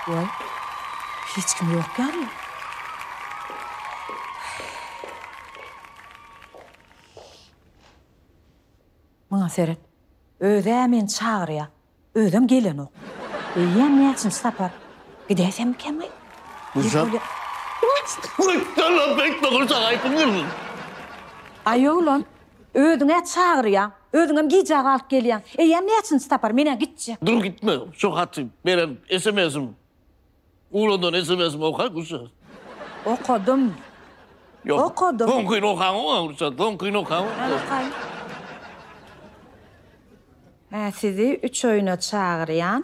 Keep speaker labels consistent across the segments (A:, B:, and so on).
A: Waý, hiç kim ýok ýaly. Muňa seret. Öz-ä meni çagyrýar. Özem gelenok. Eýýäm näçinji sapar. Gidäýsemmikemi? Gülşat. Aýow lan! Özüň-ä çagyrýaň. Özüňem gijä galyp gelýäň. Eýýäm näçinji sapar, men-ä gitjek. Dur gitme, şu haty, beren sms-im, uladan sms-imi oka, Gülşat. Okadym. Ýok. Okadym. Soňkyny okaňok-a, Gülşat, soňkyny okaňok. Ýa, okaýyn. Hä, sizi üç oýna çagyrýan.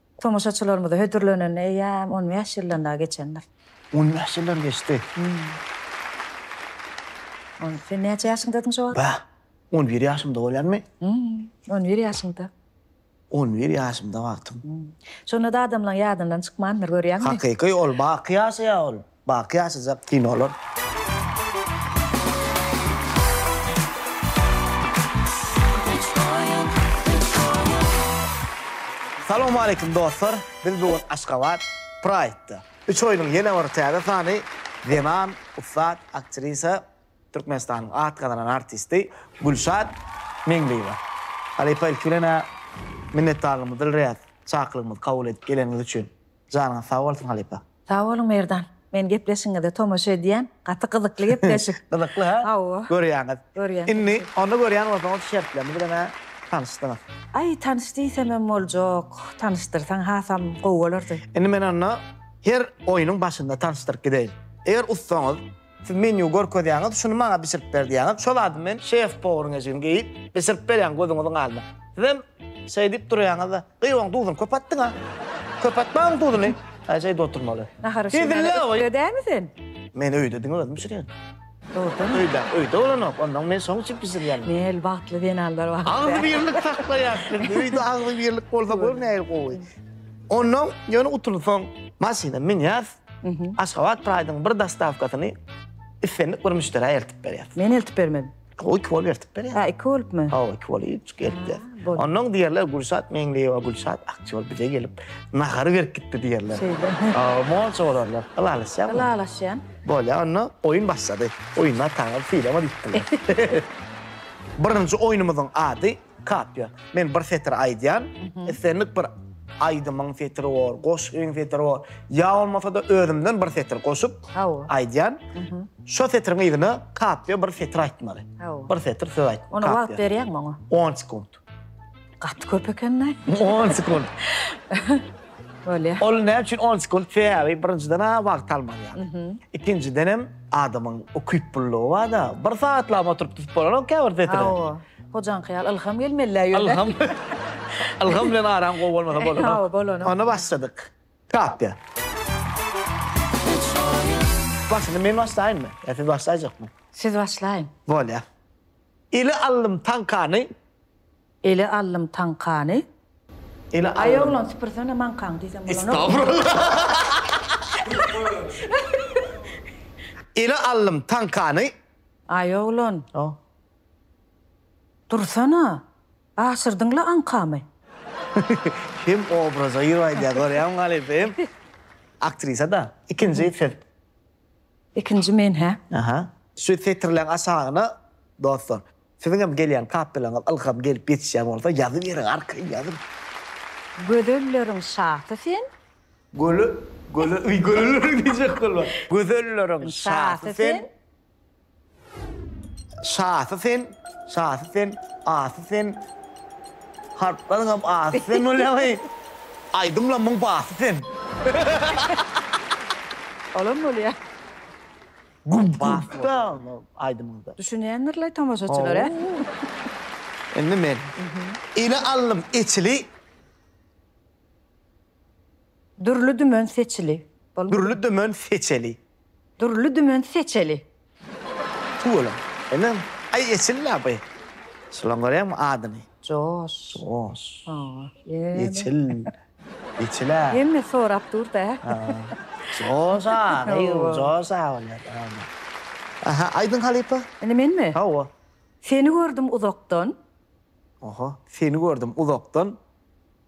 A: Tomaşaçylarymyza hödürlenenine eýýäm on bäş ýyldan dagy geçendir. On bäş ýyldan geçdi. Onda sen näçe ýaşyňdadyň şo wagt? Bäh, on bir ýaşymda bolýarmy? On bir ýaşyňda. On bir ýaşymda wagtym. Şonda-da adamlaryň ýadyndan çykmandyr, görýäňmi? Hakyky, ol baky ýaşaýar ol. Baky ýaşajak kinolar. Salowmaleýkim dostlar! Biz bu gün Aşgabat Pride-da. Üç oýnuň ýene bir täze sany zenan ussat aktrisa, Türkmenistanyň at gazanan artisti Gülşat Meňliýewa. Halypa ilki bilen-ä minnetdarlygymyzy bildirýäs, çakylygymyzy kabul edip geleniňiz üçin. Janyňyz sag bolsun halypa! Sag boluň Merdan. Men gepleşigiňize tomaşa edýän. Gaty gyzykly gepleşik. Gyzykly ha? Hawa. Görýäňiz. Görýän. Indi onda görýän bolsaňyz şertlerini bilemä tanyşdyňyz. Aý tanyş diýsemem boljak. Tanyşdyrsaň hasam gowy bolardy. Indi men onda her oýnuň başynda tanyşdyryp gideýin. Eger ussaňyz, siz menýu görkezýäňiz, şuny maňa bişirip ber diýýäňiz, şol zady men şef-powryň eşigini geýip, bişirip berýän gözüňiziň aldyna. Sizem şeýdip durýaňyz-da. Gyz oň duzuny köp atdyňa. Köp atma oň duzuny. Ajaýyp oturmaly. Nahar bişirmäne ökde dämi sen? Men öýde diňe özüm bişirýän. Dogrudanmy? Öýde, öýde bolanok. Onnoň men şoň üçin bişirýän. Nähili bagtly zenanlar bar. Agzybirlik saklaýas biz. Öýde agzybirlik bolsa gör nähili gowy. Onnoň ýöne utulsaň maşyna münýäs. Aşgabat Pride-yň bir dostawkasyny islendik bir müşderä eltip berýäs. Men eltip bermelimi? O iki bolup ertip berýär. Ha, iki bolupmy? Ha, iki bolup üç gelipler. Ondan diýerler Gülşat Meňliýewa, Gülşat Akçol bize gelip nahary berip gitdi diýerler. Şeýle. Ha, monça bolarlar. Ylalaşýar. Ylalaşýan. Bolýar, onda oýun başlady. Oýunlar taňy, filama diýipdirler. Birinji oýnumyzyň ady Kapýa. Men bir setir aýdýan, islendik bir aýdymyň setiri bor, goşgyň setiri bor, ýa bolmasa-da özümden bir setir goşup aýdýan. Şo setiriň yzyna kapýa bir setir aýtmaly. Bir setir söz aýt. Ona wagt berýäňmi oňa? On sekunt. Gaty köp eken-dä. On sekunt. Bolýa. Ol näme üçin on sekunt? Sebäbi birinjiden ha wagt almaly ýaly. Ikinjiden hem adamyň ukyplylygy bar-da. Bir sagat lap oturyp tutup bolanok käbir setiri. Hojaňky ýaly ylham gelmelidä ýöne. Ylham. Ylham bilen aram gowy bolmasa bolanok. Hawa, bolanok. Onda başladyk. Tapýa. Başyny men başlaýynmy? Ýa siz başlaýjakmy? Siz başlaýyň. Bolýa. Ele aldym taňkany. Ele aldym taňkany. Ele aldym. Aý oglan süpürsene maňkaňy diýsem bolanok. Estagfurullah. Ele aldym taňkany. Aý oglan. Hawa. Dursana! Gaçyrdyň-la aňkamy! Hem obraza girip aýdýar, görýäňmi halypa, hem aktrisa-da. Ikinji siz. Ikinji men, hä? Aha. Şu setirleň aşagyna, dostlar, siziň hem gelýän kapelaňyz ylham gelip ýetişýän bolsa, ýazyberiň, arkaýyn ýazyň. Gözelleriň şasy sen. Göle, göle, göle, göle diýjek bolman. Gözelleriň şasy sen. Şasy sen, şasy sen, asy sen. Harplaryň hem asy sen bolýaňy. Aýdymlamyň basy sen. Olam bolýa. Güm basda aýdymyňda. Düşünýändirler tomaşaçylar hä? Indi men. Ele aldym eçili. Dürli dümen seçili. Dürli dümen seçeli. Dürli dümen seçeli. Tüweleme, inim, aý eçil-le bu. Şulaň görýäňmi adyny? Joş. Joş. Hawa, ýene. Eçil. Eçil-ä. Hemme sorap dur-da. Hawa. Joş-a, gyz, joş-a bolýar. Aha, aýdyň halypa. Indi menmi? Hawa. Seni gördüm uzakdan. Oho, seni gördüm uzakdan.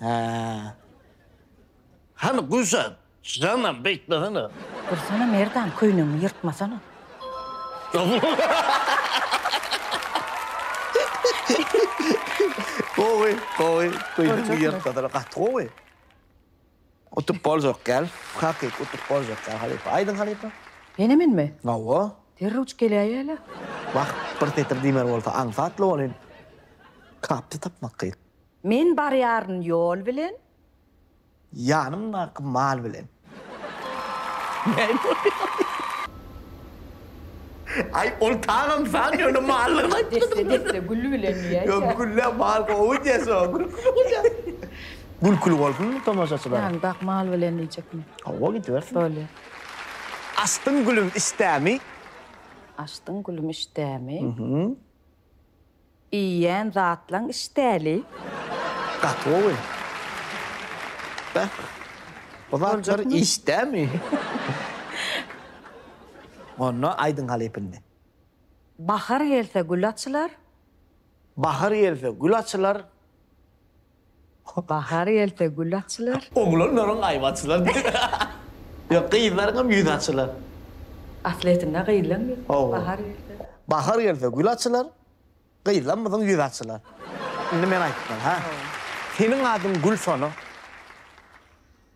A: Hä. Hany Gülşat, janam beýtmesene. Dursana Merdan, köýnegiňi ýyrtmasana. Gowy, gowy, köýnegiňi ýyrtmasana, gaty gowy. Utup boljak däl, takyk utup boljak däl halypa. Aýdyň halypa. Ýene menmi? Hawa. Derrewjik geläýeli. Wah, bir setir diýmeli bolsa aňsatly bolyn. Kapdy tapmak kyn. Men barýaryn ýol bilen. Ýanymdaky mal bilen. Näme bolýar? Aý, ol tagam san ýöne mallygyny aýtmady. Desse, desse, gül bilen diýäýse. Ýok, gülle mal gowy diýer soň. Gülküli bolýar. Gülküli bolsun tomaşaçylar. Ýagny bak mal bilen diýjekmi? Hawa, gidibersin. Bolýar. Açdyň gülüm işdämi? Açdyň gülüm işdämi? Iýýän zatlaň işdäli. Gaty gowy. Beh. Bu zatlar işdämi? Onda aýdyň halypyndy. Bahar gelse gül açylar. Bahar gelse gül açylar. Bahar gelse gül açylar. Oglanlaryň aýby açylar. Ýok, gyzlaryňam ýüzi açylar. Aslyýetinde gyzlaň ýüzi bahar gelse. Bahar gelse gül açylar. Gyzlarymyzyň ýüzi açylar. Indi men aýtdym, ha. Seniň adyň Gülsona.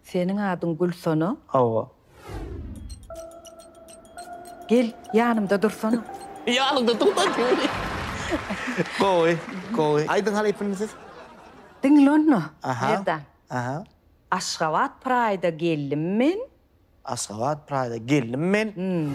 A: Seniň adyň Gülsona? Hawa. Gel, ýanymda dursana. Ýanymda dursan diýip. Gowy, gowy. Aýdyň halypyny siz. Diňle onda, Merdan. Aha. Aşgabat Praýda geldim men. Aşgabat Praýda geldim men. Hum.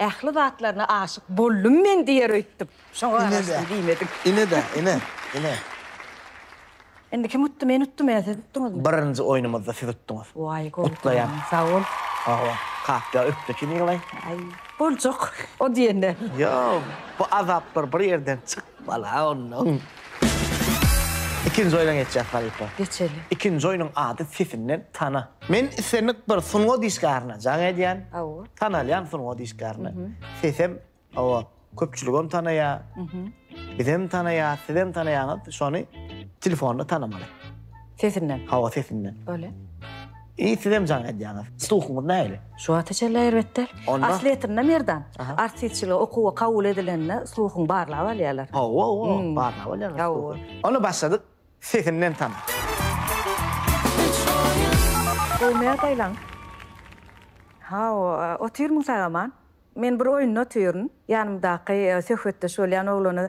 A: Ähli zatlaryna aşyk boldum men diýer öýtdüp. Şoňa garaşdym diýmedim. Ine-de, ine, ine. Indi kim utdy, men utdum ýa siz utduňyzmy? Birinji oýnumyzda siz utduňyz. Waý, gowy. Gutlaýan. Sag bol. Sag bol. Kapja öpdi ki Nikolay. Aý, boljak o diýende. Ýok, bu azaplar bir ýerden çykmaly-a onnoň. Ikinji oýna geçjek halypa. Geçeli. Ikinji oýnuň ady sesinden tana. Men islendik bir sungat işgärine jaň edýän. Hawa. Tanalýan sungat işgärine. Sesem hawa köpçüligem tanaýa. Bizem tanaýa, sizem tanaýaňyz. Şony telefonda tanamaly. Sesinden. Hawa sesinden. Bolýa. Eý sizem jaň edýäňiz. Sluhuňyz nähili? Şu wagta çenli erbet däl. Asly etinde Merdan, artistçilige okuwa kabul edilende sluhuň barlap alýarlar. Hawa hawa, barlap alýarlar sluhuň. Onda başladyk. Sesinden tanyň. Gowy näz aýlaň. Hawa, otyrmyň sag-aman. Men bir oýunda otyryn. Ýanymdaky söhbetdeş bolýan oglana.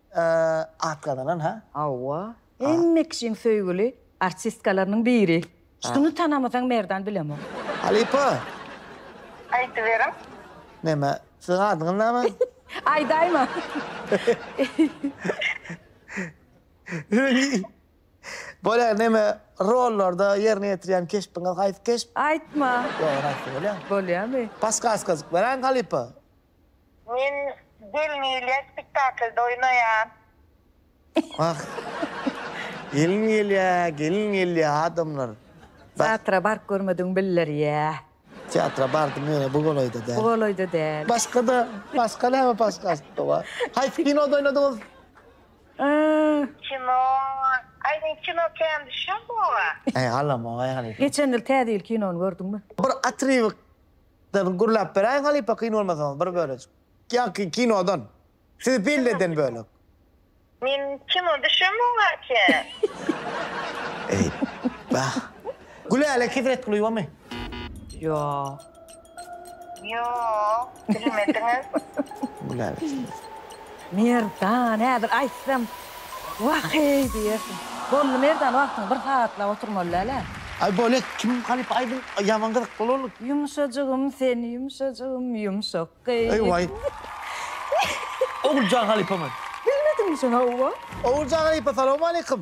A: At gazanan ha. Hawa. Hemme kişiň söýgüli artistkalarynyň biri. Şuny tanamasaň Merdan bilemok. Halypa. Aýdyberiň. Näme? Siziň adyňyz näme? Aýdaýma. Bolýar näme rollarda ýerine ýetirýän keşbiňiz haýsy keşp? Aýtma. Ýok ony aýtsa bolýar. Bolýamy? Paskaska berän halypa. Men Gelin gelýär spektaklda oýnaýan. Wah. Gelin gelýä, gelin gelýä adamlar. Teatra baryp görmedigiň bildirýä. Teatra bardym ýöne bu golaýda däl. Bu golaýda däl. Başgada, başga näme podkastda bar? Haýsy kinoda oýnadyňyz? Aa. Kino, aý men kino kän düşýän bu oba. Aý galamok aý halypa. Geçen ýyl Täze ýyl kinony gördüňmi? Bir otrywk. Dyrn gürläp beräýiň halypa kyn bolmasaňyz bir bölejik. Ýaňky kinodan. Sizi pelleden bölek. Men kino düşem oňarkä. Eýýbah. Gülälek Hezret Gulyýewamy? Ýok. Ýok, bilmediňiz. Gülälek. Merdan, häzir aýtsam, Waheý! diýersiň. Boldy Merdan, wagtyň bir sagatlap oturmaly däl-ä. Aý bolýa, kim halypa aýdym, ýaman gyzyk bolarlyk. Ýumşajygym sen ýumşajygym ýumşak gyz. Waý. Oguljan halypamy? Bilmediňmi sen, hawa. Oguljan halypa, salowmaleýkim.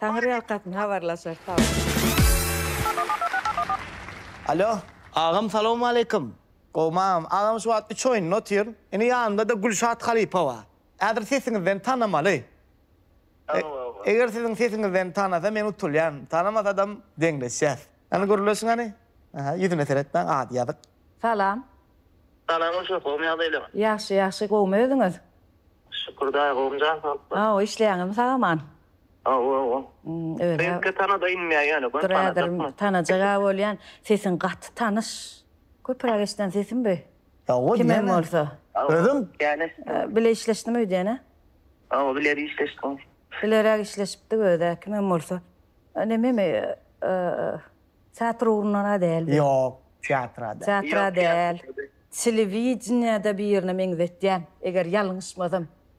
A: Taňyrýalkasyn habarlaşar sagbol. Alo agam salowmaleýkim gowmam agam şu wagt üç oýunda otyryn ine ýanymdada Gülşat halypa bar häzir sesiňizden tanamaly eger siziň sesiňizden tanasa men utulýan tanamasadam deňleşýäs hany gürleşiň hany aha ýüzüne seretmäň ady ýazyk. Salam. Salam Gülşat gowmy ýagdaýlaň. Ýagşy ýagşy gowmy özüňiz. Şükür daýy gowumjan sag bol. Hawa işleýäňizmi sag aman. Belki tanada inmeyä ýaly bu tanajak. Tanajak a bolýan sesiň gaty tanyş. Köpürak eşiden sesim bu. Kimem bolsa. Özüm. Bile işleşdim öýdýän a. Hawa biler işleşdim. Bileräk işleşipdik özä kimem bolsa. Nememi teatr ugrundan a däldi. Ýok teatr a däl. Teatr a däl. Telewideniýede birine meňzetýän eger ýalňyşmasam.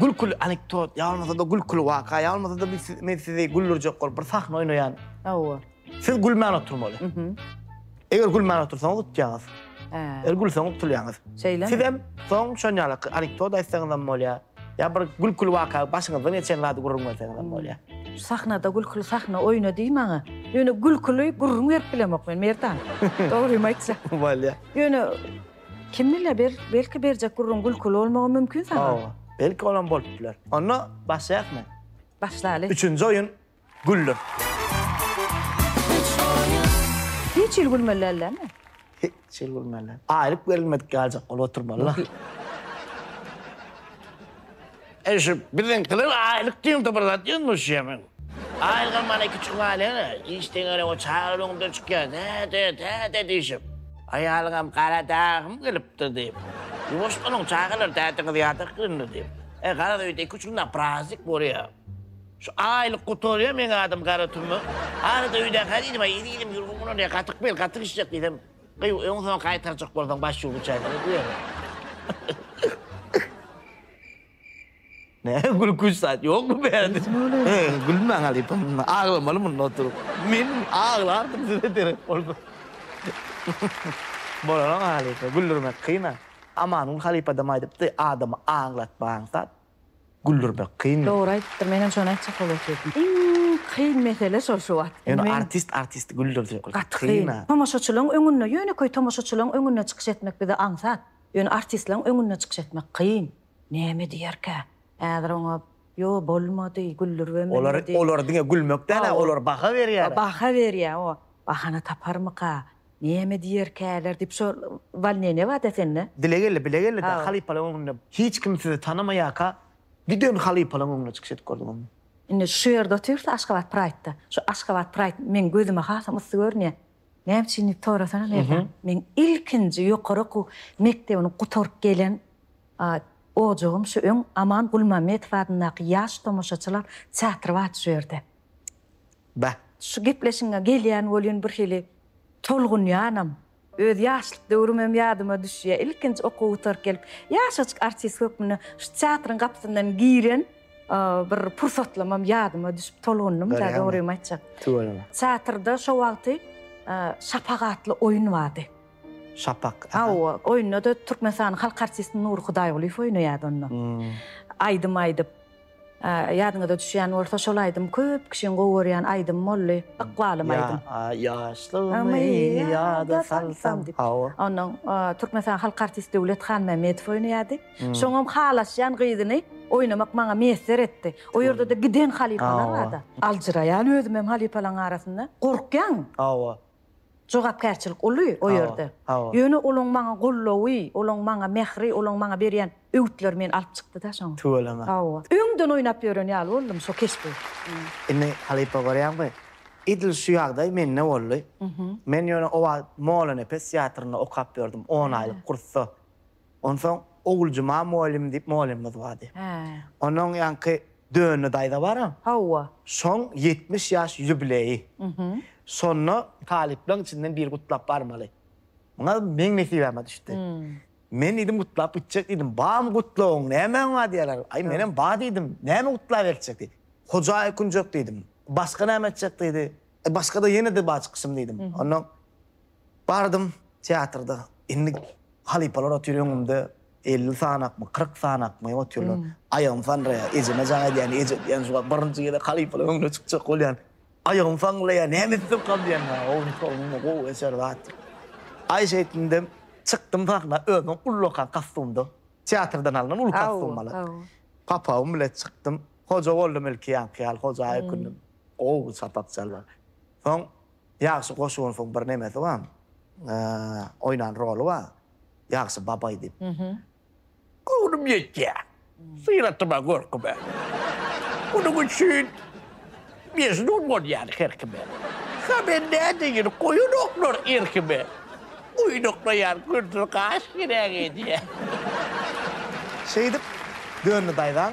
A: Gülküli anekdot, ýa bolmasa-da gülküli waka, ýa bolmasa-da biz siz, men sizi güldürjek bolup bir sahna oýnaýan. Hawa. Siz gülmän oturmaly. Eger gülmän otursaňyz utýaňyz. Hä. Eger gülseň utulýaňyz. Şeýlemi? Sizem soň şon ýaly anekdot aýtsaňyzam bolýar. Ýa bir gülküli waka, başyňyzdan geçen zady gürrüň berseňizem bolýar. Sahnada gülküli sahna oýna diý maňa. Ýöne gülküli gürrüň berip bilemok men, Merdan. Dogrymy aýtsam. Bolýar. Ýöne Kim bile bir, belki berjek gürrüň gülküli bolmagy mümkin saňa. Hawa, belki olam bolup biler. Onda başlaýakmy? Başlaly. Üçünji oýun, Güller. Hiç ýyl gülmeli däl dämi? Hiç ýyl gülmeli däl. Aýlyk berilmedik ýaljak bolup oturmaly-la. Eý şu biziňkiler aýlyk diýildi bir zat ýüz müş ýemin. Aýlygam mana iki çuň alyň-a, iş deňeli o çaga öňüňden çykýar, Däde, däde diýşip. Aýalyňam gara dagym gelipdir diýip. Ýuwaş boluň çagalar däde gyz ýadak gününi diýip. Eý garaz öýde iki-üç günde praznik bolýa. Şu aýlyk gutarýa meň adym Garatümmek. Arada öýdäki-hä diýdim-ä, iri-irim ýürgün guralýa, gatyk bel, gatyk işjek diýsem, Gyw, öň soň gaýtarjak bolsaň baş ýuwgy çaýdan ötüp ýör. Näme gülkünç zat ýokmy bärde? Gülmäň halypa munda, aglamaly munda oturyp. Men aglardym size derek bolsa. Bolar-a halypa, güldürmek kyn-a. Amangül halypadam aýdypdy, adamy aglatmaň zat. Güldürmek kyn. Dogry aýdypdyr menem şony aýtjak bolup otyryn iň kyn mesele şol şu wagt. Ýöne artist artisti güldürjek bolsa gaty kyn. Tomaşaçylaň öňünde ýönekeý tomaşaçylaň öňünde çykyş etmek bize aňsat ýöne artistlaň öňünde çykyş etmek kyn. Näme diýerkä häzir oňa ýo bolmady güldürübem bilmedi. Olar olar diňe gülmekdäne olar baha berýäler. Baha berýä o. Bahana taparmyka, näme diýerkäler diýip, şo walnýe ne bar-da sende? Dile geldi, bile geldi-de, halypalaň öňünde. Hiç kim sizi tanamaýarka, giden halypalaň öňünde çykyş edip gördüňizmi? Indi şu ýerde otyr-da, Aşgabat Praýd-da. Şu Aşgabat Praýd meň gözüme hasam yssy görünýär. Näme üçin diýip sorasana, Merdan. Meň ilkinji ýokary okuw mekdebini gutaryp gelen ojagym şu öň Aman Gulmämmetow adyndaky Ýaş tomaşaçylar teatry bardy şu ýerde. Bäh. Şu gepleşiňe gelýän welin birhili tolgunýanam. Öz ýaşlyk döwrümem ýadyma düşýär. Ilkinji okuw gutaryp gelip, ýaşajyk artist hökmünde şu teatryň gapysyndan giren bir pursatlamam ýadyma düşüp tolgundym, dogrymy aýtjak. Tüweleme. Teatrda şo wagty Şapak atly oýun bardy. Şapak. Hawa, oýunda-da Türkmenistanyň halk artisti Nury Hudaýgulyýew oýnaýardy onda. Aýdym aýdyp. Ýadyňyza düşýän bolsa şol aýdym köp kişiň gowy görýän aýdym boldy. Ykbalym aýdym. Ýaşlygymy ýada salsam diýip. Ondan Türkmenistanyň halk artisti Döwlet Hanmämmedow oýnaýardy. Şoňam halaşýan gyzyny oýnamak maňa miýesser etdi. O ýerde-de giden halypalar barda. Aljyraýan özümem halypalaň arasynda. Gorkýaň. Hawa. Jogapkärçilik uly o ýerde. Ýöne olaň maňa goldawy, olaň maňa mähri, olaň maňa berýän öwütleri meni alyp çykdy-da şoňa. Tüweleme. Hawa. Öňden oýnap ýören ýaly boldum şo keşbi. Indi halypa görýäňmi? Edil şu ýagdaý mende boldy. Men ýöne o wagt Molanepes teatrynda okap ýördüm, on aýlyk kursda. Onsoň Oguljuma mugallym diýip mugallymymyz bardy. Onuň ýaňky Dönne daýza bar-a? Hawa. Şoň ýetmiş ýaş ýubileýi. Şonda talyplaryň içinden biri gutlap barmaly. Muňa meň nesibäme düşdi. Men diýdim gutlap gitjek diýdim. Barmy gutlawyň, nämäň bar diýýärler. Aý, menem bar diýdim. Näme gutlaberkjek diýdi. Hojaý ökünjek diýdim. Başga näme etjek diýdi. Başga-da ýene-de bar çykyşym diýdim. Onnoň. Bardym, teatrda, indi halypalar otyr öňümde, elli sanakmy, kyrk sanakmy otyrlar. Aýagym sanraýar, ejeme jaň edýän, eje diýýän, şu wagt birinji gezek halypalar öňüne çykjak bolýan. Aýagym sanraýar, näme etsem kal diýýän. Owuny-sowuny gowy, eser zat. Aý şeýtdindem, çykdym sahna, özüm ullakan kostumda, teatrdan alnan uly kostum bala. Papagym bilen çykdym, hoja boldum ilki ýaňky ýaly, hoja aýkündüm. Gowy sapak çalyp. Soň Ýagşy goşugyny soň bir nemesi bar oýnan roly bar Ýagşy babaý diýip. Göwnüm ýetýä. Syratyma görküme. Munuň üçin mejnun bolýan her kime. Ka men nädeýin goýanoklar erkime. Oýnaklaýan gündüz gaş gerek edýä. Şeýdip döndi daýzaň.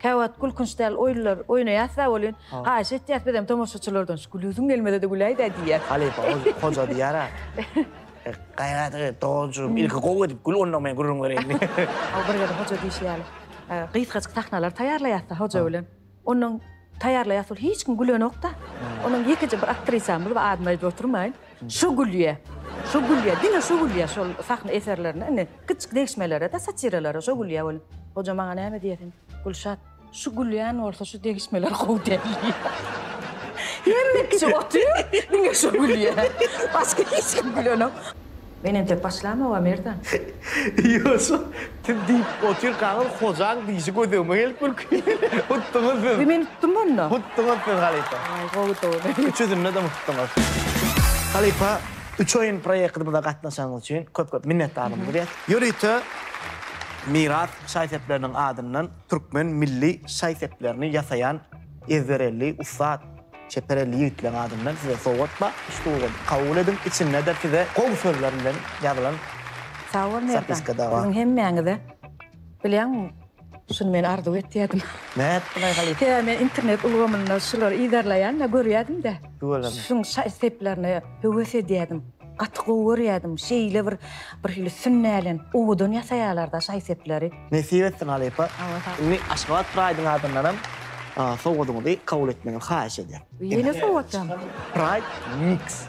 A: Käwagt gülkünç däl oýunlar oýnaýas sag bolýun. Haýyş etýäs bizem tomaşaçylardan şu gülesim gelmese-de güläýdä diýýäs. Halypa hoja diýýär-ä. Gaýrat et doganjygym ilki gowy edip gül onnoň men gürrüň bereýin diýip. Hawa bir gezek hoja diýşi ýaly. Gysgajyk sahnalar taýýarlaýasda hoja bilen. Onnoň taýýarlaýas ol hiç kim gülenok-da. Onuň ýekeje bir aktrisamyz bar adyny aýdyp oturmaýyn. Şu gülýä. Şu gülýä. Diňe şu gülýä şol sahna eserlerine. Indi kiçijik degişmelere-de, satiralara şo gülýä ol. Hoja maňa näme diýýär sen? Gülşat, şu gülýän bolsa şu degişmeler gowy däl diýýär. Hemme kişi otyr, diňe şu gülýä. Başga hiç kim gülenok. Men entek başlamok-a Merdan. Ýogsam, Siz diýip otyrkaňyz Hojaň diýşi gözegime gelip gülki. Utduňyz siz. Meni utdumy onda? Utduňyz siz halypa. Aý gowy dogry. Üçüsindedem utduňyz. Halypa Üç oýun proýektimize gatnaşanyňyz üçin köp köp minnetdarlygymyzy be. Ýörite Miras şaý-sepleriniň adyndan türkmen milli şaý-seplerini ýasaýan ezberelli ussat. Çeper elli ýigitleň adyndan size sowgat bar, üstügol, kabul ediň, içinde-de size gowy sözler bilen ýazylan zapiska da bar. Sagbol Merdan, siziň hemmäňize, bilýäňmi, şuny men arzuw etýärdim. Näet bulaý halypa? Sebäbi men internet ulgamynda şulary yzarlaýan-da, görýärdim-de. Tüweleme. Şuň şa-seplerini höwes edýärdim. Gaty gowy görýädim. Şeýle bir birhili sünnälenip, owadan ýasaýarlar-da şaý-sepleri. Nesip etsin halypa. Indi Aşgabat Pride-yň adyndanam sowgadyňyzy kabul etmegiňizi haýyş edýän. Ýene sowgatjak. Pride mix.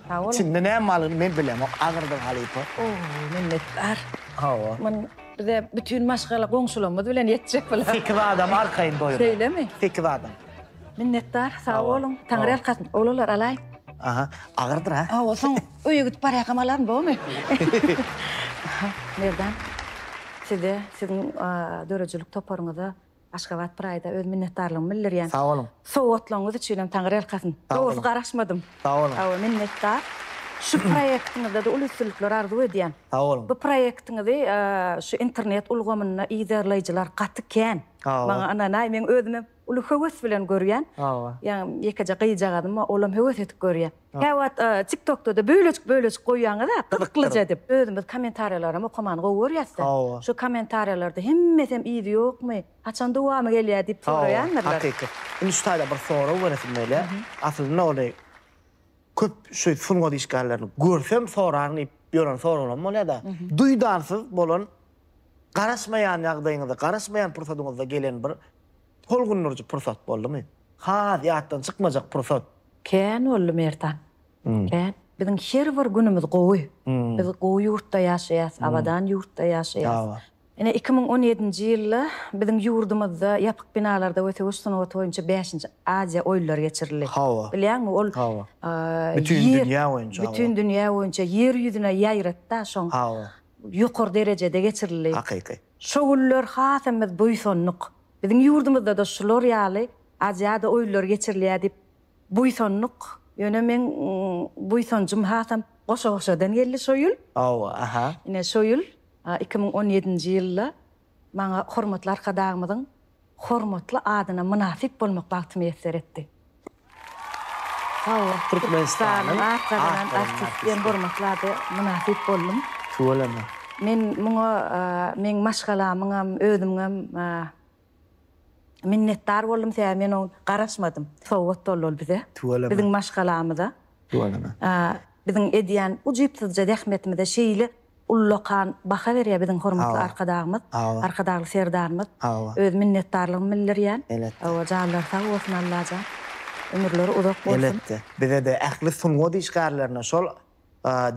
A: Sag boluň. Içinde näme barlygyny men bilemok, agyrdyr halypa. O, minnetdar. Hawa. Muny bize bütin maşgala goňşularymyz bilen ýetjek bular. Sekiz adam arkaýyn doýurýar. Şeýlemi? Sekiz adam. Minnetdar, sag boluň. Taňryýalkasyn, oglanlar, alaýyn. Aha, agyrdyr ha. Hawa, soň öýe gidip barýarkam alaryn, bormy? Merdan, size, siziň döredijilik toparyňyza Aşgabat Pride-a öz minnetdarlygymy bildirýän. Sag boluň. Sowgatlygyňyz üçinem taňryýalkasyn. Dogrusy garaşmadym. Sag boluň. Hawa, minnetdar. Şu proýektiňizde-de uly üstünlikler arzuw edýän. Sag boluň. Bu proýektiňizi şu internet ulgamynda yzarlaýjylar gaty kän. Maňa ynanaý, meň özümem uly höwes bilen görýän. Hawa. Ýagny ýekeje gyzjagazym bar, olam höwes edip görýä. Käwagt TikTokda-da bölejik-bölejik goýýaňyz-a, gyzyklyja edip. Özümiz kommentariýalaram okamany gowy görýäs-de. Hawa. Şu kommentariýalarda hemmesem yzy ýokmy, haçan dowamy gelýär diýip soraýandyrlar. Hawa, hakyky. Indi şu taýda bir sorag beresim gelýär. Aslynda ony köp şu sungat işgärlerini görsem soraryn diýip ýören soraglaram bolýar-da. Duýdansyz bolan Garaşmaýan ýagdaýyňyzda, garaşmaýan pursadyňyzda gelen bir tolgundyryjy pursat boldumy? Has ýatdan çykmajak pursat? Kän boldy Merdan. Kän. Biziň her bir günümiz gowy. Biz gowy ýurtda ýaşaýas, abadan ýurtda ýaşaýas. Ine iki müň on ýedinji ýylda biziň ýurdumyzda ýapyk binalarda we söweş sungaty boýunça bäşinji Aziýa oýunlary geçirildi. Bilýäňmi, ol Bütin dünýä boýunça. Bütin dünýä boýunça ýer ýüzüne ýaýratdy-a şoň. ýokary derejede geçirildi. Hakyky. Şo günler has hem biz buýsandyk. Biziň ýurdumyzda-da şular ýaly Aziada oýunlary geçirilýär diýip buýsandyk. Ýöne meň buýsanjym hasam goşa-goşadan geldi şo ýyl. Hawa, aha. Ine şo ýyl, iki müň on ýedinji ýylda Maňa hormatly Arkadagymyzyň hormatly adyna mynasyp bolmak bagty miýesser etdi. Sag-bol. Türkmenistanyň at gazanan artisti diýen hormatly ada mynasyp boldum. Tüweleme. Men muňa meň maşgalamyňam, özümiňem minnetdar boldum, sebäbi men oň garaşmadym. Sowgat boldy ol bize. Tüweleme. Biziň maşgalamyza. Tüweleme. Biziň edýän ujypsyzja zähmetimize şeýle Ullakan baha berýär biziň hormatly Arkadagymyz, Arkadagly Serdarymyz. Öz minnetdarlygym bildirýän. Hawa, janlary sag bolsun Allajan. Ömürleri uzak bolsun. Elbetde. Bize-de ähli sungat işgärlerine şol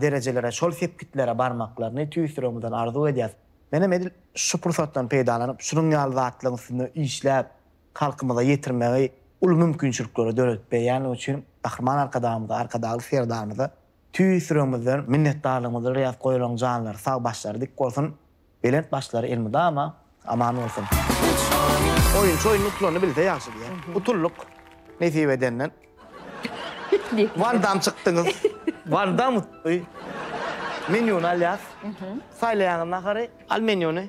A: derejelere, şol sepgitlere barmaklaryny tüýs ýüregimizden arzuw edýäs. Menem edil şu pursatdan peýdalanyp, şunuň ýaly zatlaryň üstünde işläp, halkymyza ýetirmegi uly mümkinçilikleri döredip berýänligi üçin Gahryman Arkadagymyza, Arkadagly Serdarymyza Tüýs ýüregimizden minnetdarlygymyzy bilýäs goýlaryň janlary sag başlary dik bolsun belent başlary elmydama aman bolsun. Oýunçy oýunda utulany bilse ýagşy diýä. Utuldyk nesip edenden. Wan dam çykdyňyz. Wan dam utdy. Menýuny alýas. Saýlaýaňyz nahary. Al menýuny.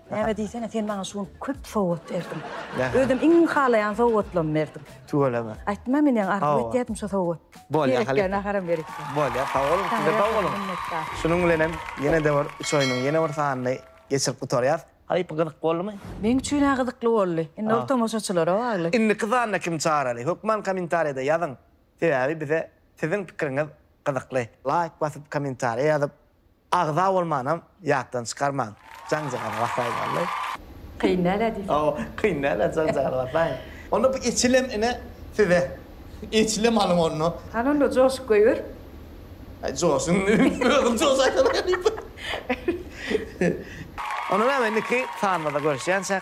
A: Näme diýsene, sen maňa şu gün köp sowgat berdiň. Özüm iň halaýan sowgatlamy berdiň. Tüweleme. Aýtma, men ýaňy arzuw etýärdim şu sowgat. Bolýar, halypa. Berekella, naharam berik. Bolýar, sag boluň, siz-de sag boluň. Şunuň bilen hem ýene-de bir üç oýnuň ýene bir sanyny geçirip gutarýas. Halypa, gyzyk boldumy? Meň üçin-ä gyzykly boldy. Indi ol tomaşaçylara bagly. Indiki sanda kimi çagyrali? Hökman kommentariýada ýazyň. Sebäbi bize siziň pikiriňiz gyzykly. Laýk basyp, kommentariýa ýazyp, Agza bolmanam ýatdan çykarmaň. Janjagala basaýyn wallay. Kyn dälä diýseň. Hawa kyn dälä janjagala basaýyn. Onda bu eçilem ine size. Eçilem alyň onda. Hany onda joşup goýber. Aý joşuň özüň joşaýsaň. Onda näme indiki sanymyzda görüşýänçäk.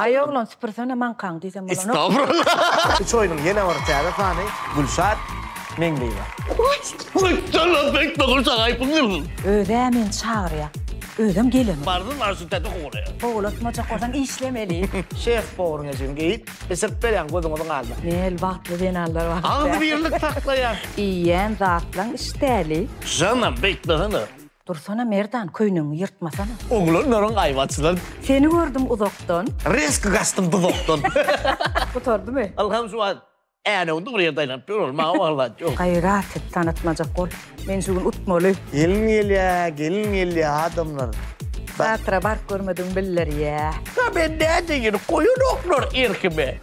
A: Aý oglan süpürsene maňkaňy diýsem bolanok. Estagfurullah. Üç oýnuň ýene bir täze sany Gülşat Meňliýewa. Maşşallah bek dogry şahaýpyňyz. Özä meni çagyrýa özem gelemok. Barzym bar şu täze howlya. Howlatmajak bolsaň işlemeli. Şef bowuryň ejin geýip biçirip berýän gözüňiziň aldyna. Nel bagtly zenanlar bar. Agzybirlik saklaýar. Iýýän zatlaň işdäli. Janam bek dahana. Dursana Merdan köýnegiňi ýyrtmasana. Oglanlaryň aýwaçlary. Seni gördüm uzakdan. Reski gaçdym duzakdan. Gutardymy? Ylham şu wagt Änew dogry ýerde aýlanyp ýör ol maňa waglaýt ýok. Gaýrat et tanatmajak bol. Men şu gün utmaly. Gelin gelýä gelin gelýä adamlar. Teatra baryp görmedigiň bildirýä. Ka men nädeýin goýanoklar erkime.